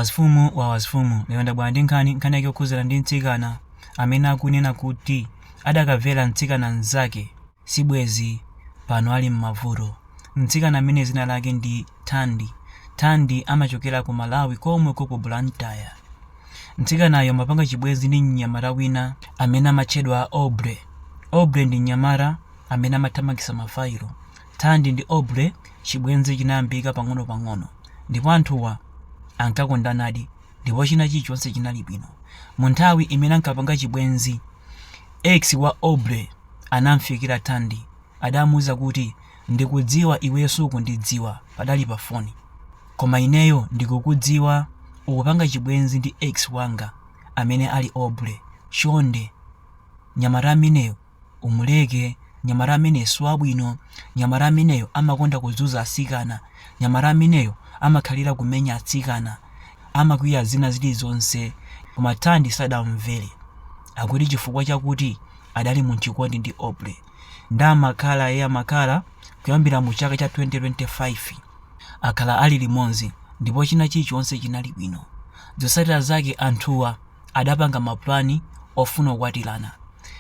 Azifumu ndi azifumu lero ndabwera ndi nkhani, nkhani yake yokhudzana ndi mtsikana amene akunena kuti adakamvera mtsikana mnzake sibwezi pano ali m'mavuto. Mtsikana ameneyu dzina lake ndi Thandi. Thandi amachokera ku Malawi komweko ku Blantyre. Mtsikanayu amapanga chibwenzi ndi mnyamata wina amene amatchedwa Aubrey. Aubrey ndi mnyamata amene amathamangitsa mafailo. Thandi ndi Aubrey chibwenzi chinayambika pang'onopang'ono ndipo anthuwa ankakondanadi ndipo china chilichonse chinali bwino. Munthawi imene ankapanga chibwenzi, ex wa Aubrey anamfikira Thandi. Adamuuza kuti, Ndikudziwa iweyo sukundidziwa, padali pafoni. Koma ineyo ndikukudziwa. Ukupanga chibwenzi ndi ex wanga amene ali Aubrey. Chonde, mnyamata ameneyo Umuleke mnyamata amene siwabwino mnyamata ameneyo amakonda kuzunza atsikana mnyamata ameneyo amakhalira kumenya atsikana amakwiya zina zilizonse koma Thandi sadamumvere akuti chifukwa chakuti adali mumchikondi ndi Aubrey nde amakhala e amakhala kuyambira mu chaka cha 2025 akhala ali limodzi ndipo china chilichonse chinali bwino zotsatira zake anthuwa adapanga mapulani ofuna kukwatirana.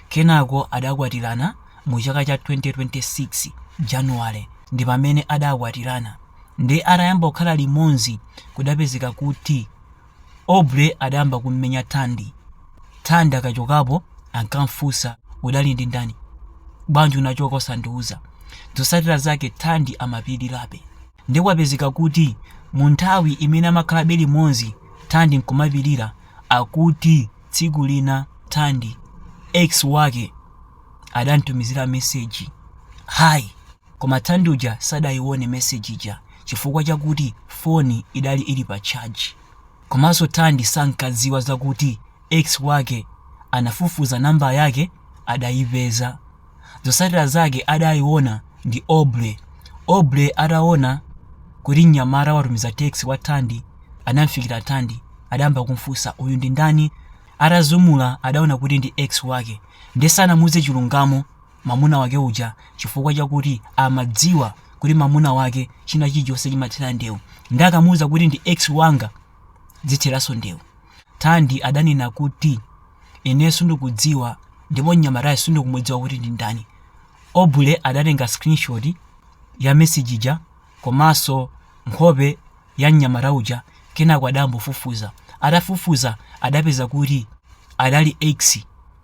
Kenako adakwatirana mu chaka cha 2026 January ndipamene adakwatirana. Nde atayamba kukhala limodzi kudapezeka kuti Aubrey adayamba kummenya Thandi. Thandi akachokapo ankamfunsa udali ndi ndani? Bwanji unachoka osandiuza? Zotsatira zake Thandi amapirirabe. Nde kwapezeka kuti mu nthawi imene amakhalabe limodzi Thandi nkumapirira akuti tsiku lina Thandi ex wake adamtumizira message Hi koma Thandi uja sadayione message ija chifukwa chakuti phone idali ili pa charge komanso Thandi sankadziwa zakuti ex wake anafufuza number yake adaipeza Zotsatira zake adayiona ndi Aubrey. Aubrey ataona kuti mnyamata watumiza text kwa Thandi anamfikira Thandi adayamba kumfunsa uyu ndi ndani atazumula adaona kuti ndi ex wake nde sanamuuze chilungamo mamuna wake uja chifukwa chakuti amadziwa kuti mamuna wake china chilichonse chimathera ndewu nde akamuuza kuti ndi ex wanga zitheranso ndewu Thandi adanena kuti Ineyo sindikudziwa ndipo mnyamatayo sindikumudziwa kuti ndi ndani. Aubrey adatenga screenshot ya message ija komanso nkhope ya mnyamata uja kenako adambofufuza. Atafufuza adapeza kuti adali ex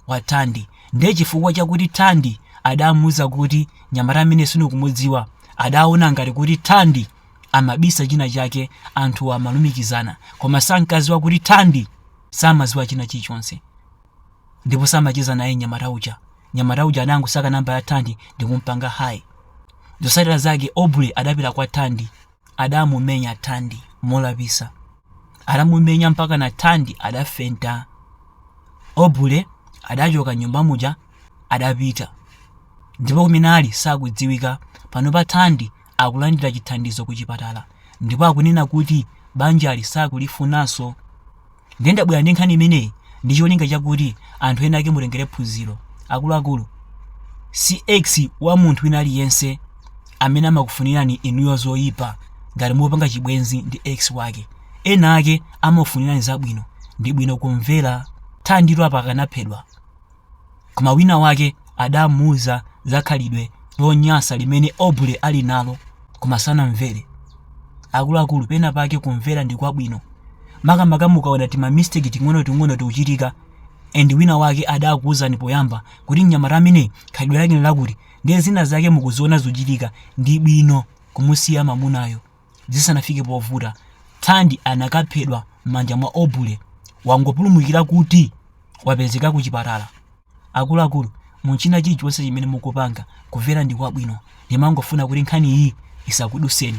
wa Thandi. Ndiye chifukwa chakuti Thandi adamuuza kuti mnyamata amene sindikumudziwa adaona ngati kuti Thandi amabisa china chake anthu amalumikizana koma sankadziwa kuti Thandi samaziwa china chilichonse ndipo samacheza naye mnyamata uja mnyamata uja adangosaka namba ya Thandi ndikumpanga hayi zotsatira zake aubrey adapita kwa Thandi adamumenya Thandi molapisa adamumenya mpaka na Thandi adafenta aubrey adachoka m'nyumba muja adapita ndipo kumene ali sakudziwika panopa Thandi akulandira chithandizo kuchipatala ndipo akunena kuti banjali sakulifunanso. Ndiye ndabwera ndi nkhani imeneyi ndi cholinga chakuti anthu ena ake mutengere phunziro. Akuluakulu, si ex wa munthu wina aliyense amene amakufunirani inuyo zoyipa ngati mupanga chibwenzi ndi ex wake. Ena ake amakufunirani zabwino. Ndi bwino kumvera. Thanditu apa akanaphedwa. Koma winawake adamuuza za khalidwe lonyasa limene Aubrey ali nalo, koma sanamvere. Akuluakulu, pena pake kumvera ndi kwabwino, makamaka mukaona timamisteki ting'onoting'ono tikuchitika and winawake adakuuzani poyamba kuti mnyamata ameneyi khalidwe lake ndi lakuti, ndiye zina zake mukuziona zikuchitika, ndi bwino kumusiya mamunayo. zisanafike povuta thandi anakaphedwa m'manja mwa Aubrey wangopulumukira kuti wapezeka ku chipatala akuluakulu mu china chilichonse chimene mukupanga kumvera ndi kwabwino ndimangofuna kuti nkhani iyi isakuduseni